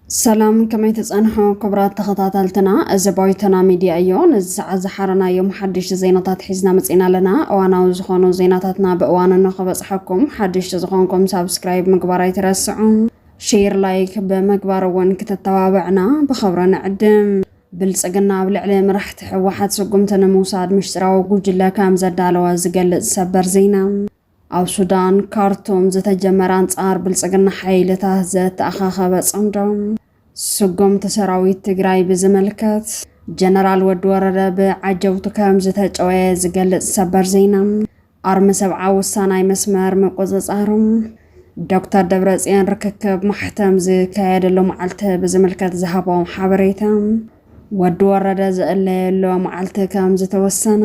ሰላም ከመይ ተፀንሑ ክቡራት ተኸታተልትና፣ እዚ ባይቶና ሚድያ እዮ። ነዚ ሰዓት ዝሓረናዮም ሓድሽቲ ዜናታት ሒዝና መፂና ኣለና። እዋናዊ ዝኾኑ ዜናታትና ብእዋኑ ንኽበፅሐኩም ሓድሽቲ ዝኾንኩም ሳብስክራይብ ምግባር ኣይትረስዑ። ሼር ላይክ ብምግባር እውን ክተተባብዕና ብኸብረ ንዕድም። ብልፅግና ኣብ ልዕሊ መራሕቲ ህወሓት ስጉምቲ ንምውሳድ ምሽጥራዊ ጉጅለ ከም ዘዳለወ ዝገልፅ ሰበር ዜና። ኣብ ሱዳን ካርቱም ዝተጀመረ ኣንፃር ብልፅግና ሓይልታት ዘተኣኻኸበ ፅምዶ። ስጉምቲ ሰራዊት ትግራይ ብዝምልከት ጀነራል ወዲ ወረደ ብዓጀውቱ ከም ዝተጨወየ ዝገልፅ ሰበር ዜና። ኣርሚ ሰብዓ ወሳናይ መስመር ምቁፅፃሩ ዶክተር ደብረፅዮን ርክክብ ማሕተም ዝካየደሉ መዓልቲ ብዝምልከት ዝሃቦም ሓበሬታ ወዲ ወረደ ዝእለየሉ መዓልቲ ከም ዝተወሰነ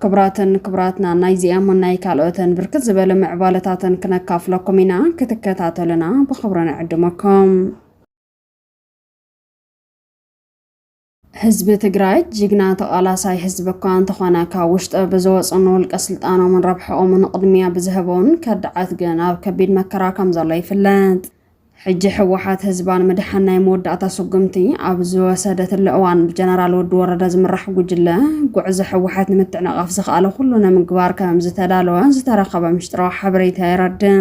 ክብራትን ክብራትና ናይ ዚኣምን ናይ ካልኦትን ብርክት ዝበለ ምዕባለታትን ክነካፍለኩም ኢና ክትከታተሉና ብክብሪ ንዕድመኩም ህዝቢ ትግራይ ጅግና ተቃላሳይ ህዝቢ እኳ እንተኾነ ካብ ውሽጠ ብዝወፁ ንውልቀ ስልጣኖምን ረብሐኦምን ቕድሚያ ብዝሀበውን ከዳዓት ግን ኣብ ከቢድ መከራ ከምዘሎ ይፍለጥ። ሕጂ ህወሓት ህዝባ ንምድሓን ናይ መወዳእታ ስጉምቲ ኣብ ዝወሰደትሉ እዋን ብጀነራል ወዲ ወረደ ዝምራሕ ጉጅለ ጉዕዞ ህወሓት ንምትዕንቓፍ ዝክኣሎ ኩሉ ንምግባር ከምዝተዳለወ ዝተረኸበ ምሽጥራዊ ሓበሬታ የረድእ።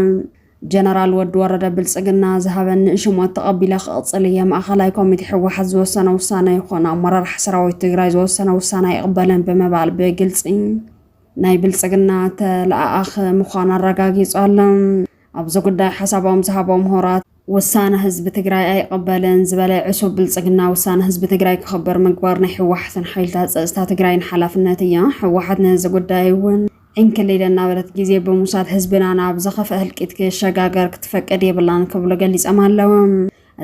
ጀነራል ወዲ ወረደ ብልፅግና ዝሃበኒ ንሽሞት ተቐቢለ ክቕፅል እየ፣ ማእኸላይ ኮሚቴ ህወሓት ዝወሰነ ውሳነ ይኹን ኣመራርሓ ሰራዊት ትግራይ ዝወሰነ ውሳነ ኣይቕበልን ብምባል ብግልፂ ናይ ብልፅግና ተለኣኣኺ ምዃኑ ኣረጋጊፁ ኣሎ። ኣብዚ ጉዳይ ሓሳቦም ዝሃቦ ምሁራት ውሳነ ህዝቢ ትግራይ ኣይቕበልን ዝበለ ዕሱብ ብልፅግና ውሳነ ህዝቢ ትግራይ ክኽበር ምግባር ናይ ህወሓትን ሓይልታት ፀፅታ ትግራይን ሓላፍነት እያ፣ ህወሓት ነዚ ጉዳይ እውን እንክሊለ እናበለት ግዜ ብምውሳድ ህዝብና ናብ ዘኸፍአ ህልቂት ክሸጋገር ክትፈቅድ የብላን ክብሉ ገሊጸም ኣለዉ።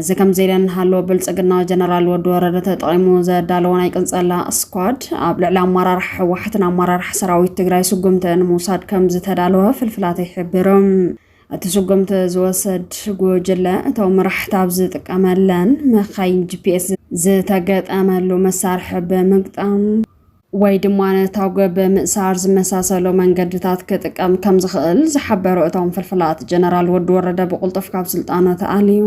እዚ ከምዚ ኢለ እንሃሎ ብልጽግና ጀነራል ወዲ ወረደ ተጠቒሙ ዘዳለዎ ናይ ቅንጸላ ስኳድ ኣብ ልዕሊ ኣመራርሓ ህወሓትን ኣመራርሓ ሰራዊት ትግራይ ስጉምቲ ንምውሳድ ከም ዝተዳለወ ፍልፍላተይ ይሕብሩ። እቲ ስጉምቲ ዝወሰድ ጉጅለ እቶም መራሕቲ ኣብ ዝጥቀመለን መካይን ጂፒኤስ ዝተገጠመሉ መሳርሒ ብምግጣም ወይ ድማ ነታጒ ብምእሳር ዝመሳሰሉ መንገድታት ክጥቀም ከም ዝኽእል ዝሓበሩ እቶም ፍልፍላት፣ ጀነራል ወዲ ወረደ ብቕልጡፍ ካብ ስልጣኑ ተኣልዩ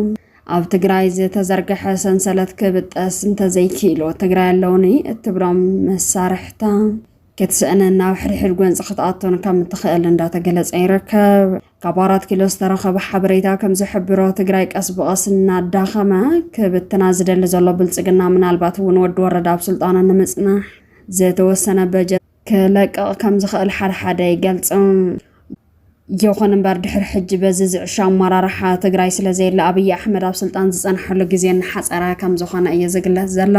ኣብ ትግራይ ዝተዘርገሐ ሰንሰለት ክብጠስ እንተዘይኪኢሉ ትግራይ ኣለውኒ እትብሎም መሳርሕታ ክትስእንን ናብ ሕድሕድ ጎንፂ ክትኣቱን ከም እትኽእል እንዳተገለፀ ይርከብ። ካብ ኣራት ኪሎ ዝተረኸበ ሓበሬታ ከም ዝሕብሮ ትግራይ ቀስ ብቐስ እናዳኸመ ክብትና ዝደሊ ዘሎ ብልፅግና ምናልባት እውን ወዲ ወረዳ ኣብ ስልጣኑ ንምፅናሕ ዝተወሰነ በጀት ክለቅቕ ከም ዝኽእል ሓደሓደ ይገልፁ። ይኹን እምበር ድሕሪ ሕጂ በዚ ዝዕሾ ኣመራርሓ ትግራይ ስለዘየለ ኣብይ ኣሕመድ ኣብ ስልጣን ዝፀንሐሉ ግዜ እናሓፀረ ከም ዝኾነ እዩ ዝግለፅ ዘሎ።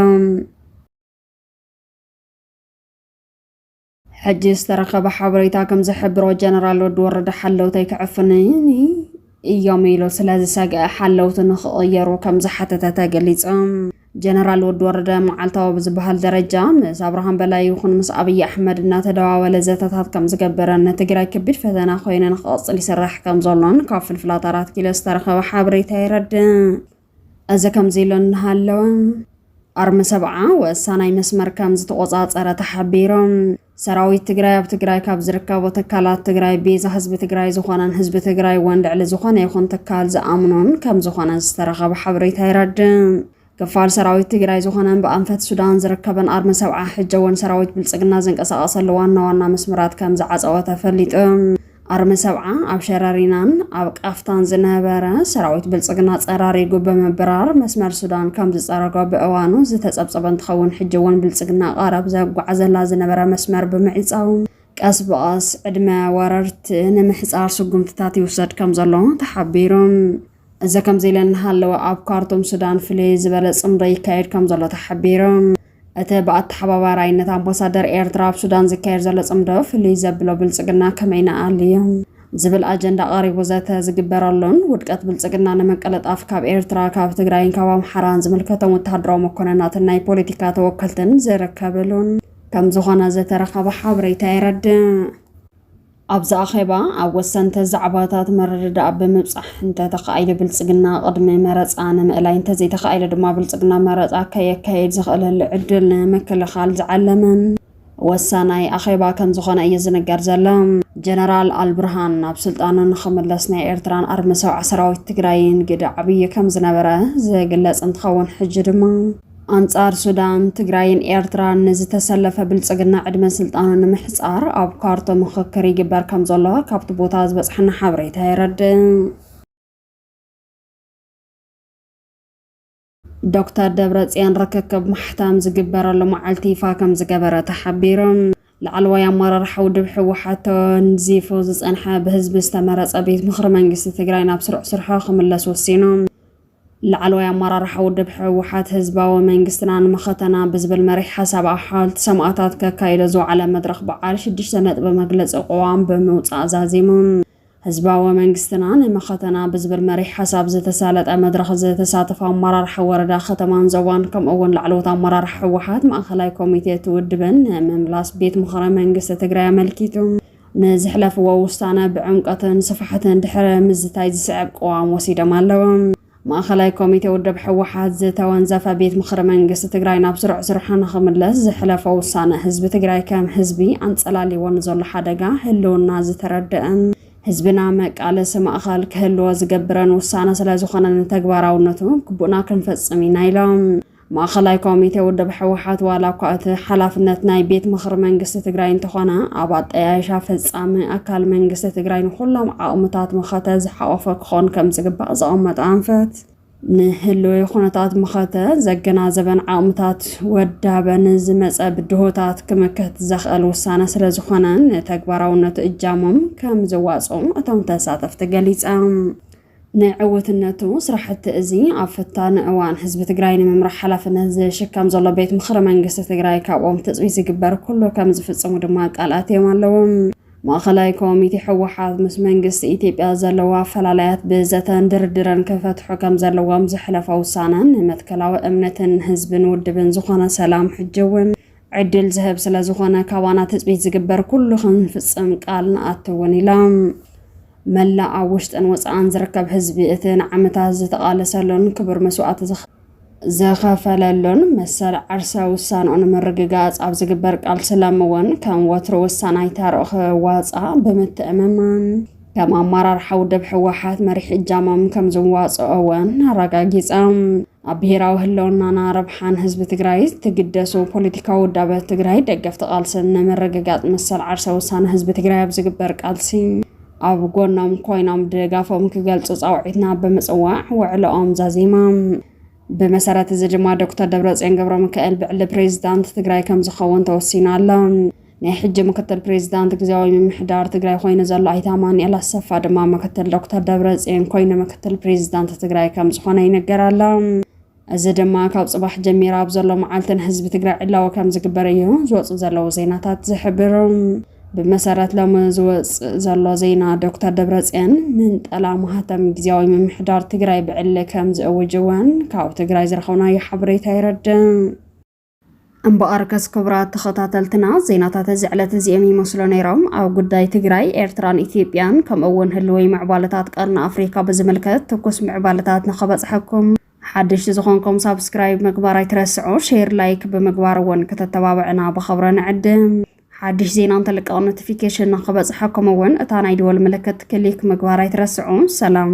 ሕጂ ዝተረኸበ ሓበሬታ ከም ዝሕብሮ ጀነራል ወዲ ወረደ ሓለውተይ ክዕፍንኒ እዮም ኢሉ ስለ ዝሰግአ ሓለውቲ ንክቕየሩ ከም ዝሓተተ ተገሊጹ። ጀነራል ወዲ ወረደ መዓልታዊ ብዝበሃል ደረጃ ምስ ኣብርሃም በላይ ይኹን ምስ ኣብይ ኣሕመድ እናተደዋወለ ዘተታት ከም ዝገበረን ንትግራይ ከቢድ ፈተና ኮይነ ንክቕፅል ይስራሕ ከም ዘሎን ካብ ፍልፍላት ኣራት ኪሎ ዝተረኸበ ሓበሬታ የረድእ። እዚ ከምዚሉ እናሃለወ ኣርሚ ሰብዓ ወሳናይ መስመር ከምዝተቖፃፀረ ተሓቢሩ። ሰራዊት ትግራይ ኣብ ትግራይ ካብ ዝርከቡ ትካላት ትግራይ ቤዛ ህዝቢ ትግራይ ዝኾነን ህዝቢ ትግራይ እውን ልዕሊ ዝኾነ ይኹን ትካል ዝኣምኖን ከምዝኾነ ዝተረኸበ ሓበሬታ የረድእ። ክፋል ሰራዊት ትግራይ ዝኾነን ብኣንፈት ሱዳን ዝርከበን ኣርሚ ሰብዓ ሕጂ እውን ሰራዊት ብልፅግና ዝንቀሳቐሰሉ ዋና ዋና መስመራት ከምዝዓፀወ ተፈሊጡ። ኣርሚ ሰብዓ ኣብ ሸረሪናን ኣብ ቃፍታን ዝነበረ ሰራዊት ብልፅግና ፀራሪጉ ብምብራር መስመር ሱዳን ከም ዝፀረጎ ብእዋኑ ዝተፀብፀበ እንትኸውን ሕጂ እውን ብልፅግና ቐረብ ዘጓዕዘላ ዝነበረ መስመር ብምዕፃው ቀስ ብቐስ ዕድመ ወረርቲ ንምሕፃር ስጉምትታት ይውሰድ ከም ዘሎ ተሓቢሩ። እዚ ከምዚ ኢለ እናሃለወ ኣብ ካርቱም ሱዳን ፍልይ ዝበለ ፅምዶ ይካየድ ከም ዘሎ ተሓቢሩ። እቲ ብኣተሓባባራይነት ኣምባሳደር ኤርትራ ኣብ ሱዳን ዝካየድ ዘሎ ጽምዶ ፍልይ ዘብሎ ብልጽግና ከመይ ንኣልዮ ዝብል ኣጀንዳ ቀሪቡ ዘተ ዝግበረሉን ውድቀት ብልጽግና ንምቅልጣፍ ካብ ኤርትራ ካብ ትግራይን ካብ ኣምሓራን ዝምልከቶም ወተሃደራዊ መኮነናትን ናይ ፖለቲካ ተወከልትን ዝርከብሉን ከም ዝኾነ ዝተረኸበ ሓበሬታ የረድእ። ኣብዚ ኣኼባ ኣብ ወሰንተ ዛዕባታት ምርድዳእ ብምብጻሕ እንተተኻኢሉ ብልጽግና ቅድሚ መረጻ ንምእላይ እንተዘይተኻኢሉ ድማ ብልጽግና መረጻ ከየካየድ ዝኽእለሉ ዕድል ንምክልኻል ዝዓለመ ወሳናይ ኣኼባ ከም ዝኾነ እዩ ዝንገር ዘሎ። ጀነራል ኣልብርሃን ናብ ስልጣኑ ንክምለስ ናይ ኤርትራን ኣርሚ ሰውዓ ሰራዊት ትግራይን ግደ ዓብዪ ከም ዝነበረ ዝግለጽ እንትኸውን ሕጂ ድማ ኣንጻር ሱዳን፣ ትግራይን ኤርትራን ንዝተሰለፈ ብልጽግና ዕድመ ስልጣኑ ንምሕጻር ኣብ ካርቶ ምኽክር ይግበር ከም ዘሎ ካብቲ ቦታ ዝበጽሓና ሓበሬታ የረድእ። ዶክተር ደብረጽዮን ርክክብ ማሕተም ዝግበረሉ መዓልቲ ይፋ ከም ዝገበረ ተሓቢሩ። ላዕለዋይ ኣመራርሓ ውድብ ህወሓት ተወንዚፉ ዝጸንሐ ብህዝቢ ዝተመረጸ ቤት ምኽሪ መንግስቲ ትግራይ ናብ ስሩዕ ስርሖ ክምለስ ወሲኑ። ላዕለዋይ ኣመራርሓ ውድብ ህወሓት ህዝባዊ መንግስትና ንመኸተና ብዝብል መሪሕ ሓሳብ ኣብ ሓወልቲ ሰማእታት ከካይዶ ዝወዓለ መድረኽ በዓል ሽዱሽተ ነጥቢ መግለፂ ቕዋም ብምውፃእ ዛዚሙ። ህዝባዊ መንግስትና ንመኸተና ብዝብል መሪሕ ሓሳብ ዝተሳለጠ መድረኽ ዝተሳተፉ ኣመራርሓ ወረዳ፣ ከተማን ዞባን ከምኡ እውን ላዕለዎት ኣመራርሓ ህወሓት ማእኸላይ ኮሚቴ እቲ ውድብን ንምምላስ ቤት ምኽሪ መንግስቲ ትግራይ ኣመልኪቱ ንዘሕለፍዎ ውሳነ ብዕምቆትን ስፋሕትን ድሕሪ ምዝታይ ዝስዕብ ቅዋም ወሲዶም ኣለዉ። ማእኸላይ ኮሚቴ ውድብ ህወሓት ዝተወንዘፈ ቤት ምኽሪ መንግስቲ ትግራይ ናብ ስሩዕ ስርሑ ንኽምለስ ዘሕለፎ ውሳነ ህዝቢ ትግራይ ከም ህዝቢ ኣንፀላልይዎ ንዘሎ ሓደጋ ህልውና ዝተረደእን ህዝብና መቃለሲ ማእኸል ክህልዎ ዝገብርን ውሳነ ስለዝኾነ ንተግባራውነቱ ግቡእና ክንፈፅም ኢና ኢሎም። ማእኸላይ ኮሚቴ ውድብ ሕወሓት ዋላ እኳ እቲ ሓላፍነት ናይ ቤት ምኽሪ መንግስቲ ትግራይ እንተኾነ ኣብ ኣጠያይሻ ፈፃሚ ኣካል መንግስቲ ትግራይ ንኹሎም ዓቕምታት መኸተ ዝሓቖፈ ክኾን ከምዝግባእ ዘቐመጦ ኣንፈት ንህልዊ ኩነታት መኸተ ዘገናዘበን ዓቕምታት ወዳበ ንዝመፀ ብድሆታት ክምክት ዘኽእል ውሳነ ስለዝኾነ ንተግባራውነቱ እጃሞም ከምዘዋፅኡ እቶም ተሳተፍቲ ገሊፆም። ንዕውትነቱ ስራሕቲ እዚ ኣብ ፈታኒ እዋን ህዝቢ ትግራይ ንምምራሕ ሓላፍነት ዝሽከም ዘሎ ቤት ምኽሪ መንግስቲ ትግራይ ካብኦም ትፅቢት ዝግበር ኩሉ ከም ዝፍፅሙ ድማ ቃል ኣትዮም ኣለዉ። ማእኸላይ ኮሚቴ ህወሓት ምስ መንግስቲ ኢትዮጵያ ዘለዎ ኣፈላላያት ብዘተን ድርድርን ክፈትሑ ከም ዘለዎም ዘሕለፎ ውሳነ ንመትከላዊ እምነትን ህዝብን ውድብን ዝኾነ ሰላም ሕጂ እውን ዕድል ዝህብ ስለዝኾነ ካባና ትፅቢት ዝግበር ኩሉ ክንፍፅም ቃል ንኣቲ እውን ኢሎም። መላእ ኣብ ውሽጥን ወጻእን ዝርከብ ህዝቢ እቲ ንዓመታት ዝተቓለሰሉን ክቡር መስዋእቲ ዝኸፈለሉን መሰል ዓርሰ ውሳንኡ ንምርግጋጽ ኣብ ዝግበር ቃልሲ ሎሚ እውን ከም ወትሩ ወሳናይ ታርኡ ክዋጽኣ ብምትእምማን ከም ኣመራርሓ ውድብ ህወሓት መሪሕ እጃሞም ከም ዝዋጽኦ እውን ኣረጋጊጸም። ኣብ ብሄራዊ ህልውናና ረብሓን ህዝቢ ትግራይ ዝትግደሱ ፖለቲካዊ ውዳበ ትግራይ ደገፍቲ ቃልስን ንምርግጋፅ መሰል ዓርሰ ውሳነ ህዝቢ ትግራይ ኣብ ዝግበር ቃልሲ ኣብ ጎኖም ኮይኖም ድጋፎም ክገልፁ ፃውዒትና ብምፅዋዕ ውዕለኦም ዛዚሞም። ብመሰረት እዚ ድማ ዶክተር ደብረፅዮን ገብረሚካኤል ብዕሊ ፕሬዚዳንት ትግራይ ከምዝኸውን ተወሲኑ ኣሎ። ናይ ሕጂ ምክትል ፕሬዚዳንት ግዜያዊ ምምሕዳር ትግራይ ኮይኑ ዘሎ ኣይተ ኣማኑኤል ኣሰፋ ድማ ምክትል ዶክተር ደብረፅዮን ኮይኑ ምክትል ፕሬዚዳንት ትግራይ ከም ዝኾነ ይንገር ኣሎ። እዚ ድማ ካብ ፅባሕ ጀሚራ ኣብ ዘሎ መዓልቲ ንህዝቢ ትግራይ ዕላዊ ከም ዝግበር እዩ ዝወፁ ዘለዉ ዜናታት ዝሕብሩ። ብመሰረት ሎሚ ዝወፅእ ዘሎ ዜና ዶክተር ደብረፅዮን ምንጠላ ማህተም ግዜያዊ ምምሕዳር ትግራይ ብዕሊ ከም ዝእውጅ እውን ካብ ትግራይ ዝረኸብናዮ ሓበሬታ የረድእ። እምበኣርከስ ክቡራት ተኸታተልትና ዜናታት እዚ ዕለት እዚኦም ይመስሉ ነይሮም። ኣብ ጉዳይ ትግራይ፣ ኤርትራን ኢትዮጵያን ከምኡ እውን ህልወይ ምዕባለታት ቀርኒ ኣፍሪካ ብዝምልከት ትኩስ ምዕባለታት ንኸበፅሐኩም ሓደሽቲ ዝኾንኩም ሳብስክራይብ ምግባር ኣይትረስዑ፣ ሼር ላይክ ብምግባር እውን ከተተባብዕና ብኸብረ ንዕድም። ሓድሽ ዜና እንተልቀቕ ኖቲፊኬሽን ንኽበፅሐኩም እውን እታ ናይ ደወል ምልክት ክሊክ ምግባር ኣይትረስዑ። ሰላም!